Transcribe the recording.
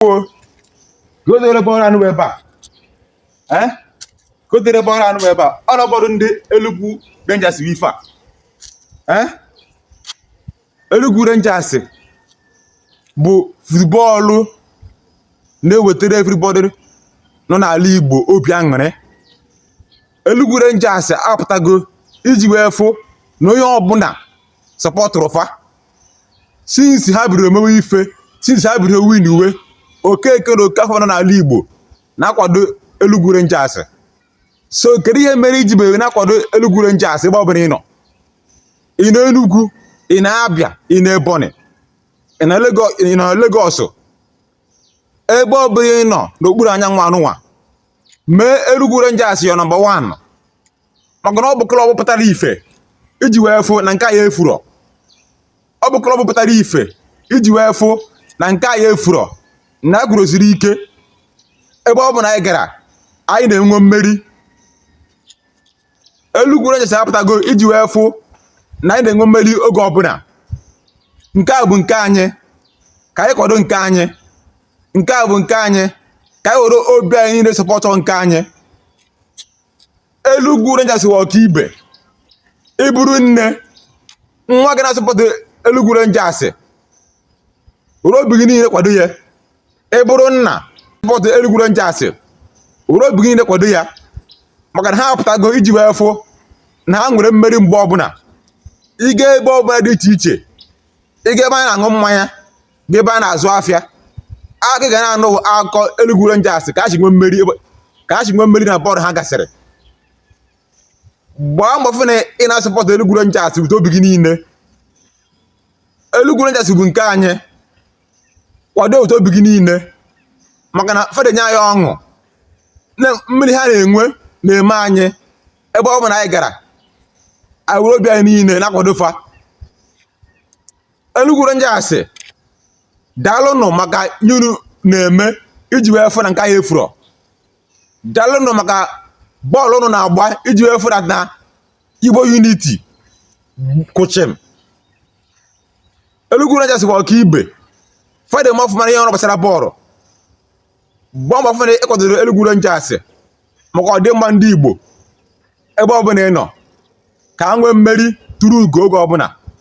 o gotere bọọlụ anụ ebe a ee gotere bọọlụ anụ ebe a ọ nọbọdụ ndị Enugu Rangers bụ ife a ee Enugu Rangers bụ futbọọlụ na-ewetara everybody nọ n'ala Igbo obi aṅụrị Enugu Rangers apụtago iji wee fụ na onye ọbụla sọpọtụrụ fa since ha bidoro mewe ife since ha bidoro winiwe Okeke na Okafọ nọ n'ala Igbo na-akwado Enugu Rangers so kedu ihe mere i ji bere na-akwado Enugu Rangers ebe ọ bụla ị nọ ị nọ Enugu ị nọ Abịa ị nọ Ebonyi ị nọ Lagos ebe ọ bụla ị nọ n'okpuru anyanwụ anụnwa mee Enugu Rangers your nọmba 1 maka na ọ bụ klọb pụtara ife iji wee fụ na nke anyị efurọ ọ bụ klọb pụtara ife iji wee fụ na nke anyị efurọ na a kwụrụsiri ike ebe ọbụla anyị gara anyị na-enwe mmeri Enugu Rangers apụtago iji wee fụ na anyị na-enwe mmeri oge ọbụla nke a bụ nke anyị ka anyị kwado nke anyị nke a bụ nke anyị ka anyị were obi anyị niile sọpọtọ nke anyị Enugu Rangers wụ ọkaibe ị bụrụ nne nwa gị na-asọpọtụ Enugu Rangers were obi gị niile kwado ya ị bụrụ nna sọpọtụ Enugu Rangers were obi gị niile kwado ya maka na ha apụtago iji wee fụ na ha nwere mmeri mgbe ọbụla ị gaa ebe ọbụla dị iche iche ị gaa ebe a na-aṅụ mmanya gaa ebe a na-azụ afịa a ka ga na-anụ akụkọ Enugu Rangers ka ha si nwee mmeri na bọọlụ ha gasịrị gbaa mbọ fụ na ị na-asọpọtụ Enugu Rangers bute obi gị niile Enugu Rangers bụ nke anyị kwado bute obi gị niile maka na fa de enye anyị ọṅụ na mmeri ha na-enwe na-eme anyị ebe ọ bụla anyị gara anyị were obi anyị niile na-akwado fa Enugu Rangers daalụnụ maka ihe ụnụ na-eme iji wee fụ na nke anyị efuro daalụnụ maka bọọlụ ụnụ na-agba iji wee fụ na Igbo unity kwụ chịm Enugu Rangers bụ ọka ibe fa de eme ọfụma ihe ọrụ gbasara bọọlụ gbaa mbọ fụ na ị kwadoro Enugu Rangers maka ọdịmma ndị Igbo ebe ọbụla ị nọ ka ha nwee mmeri turu ugo oge ọbụla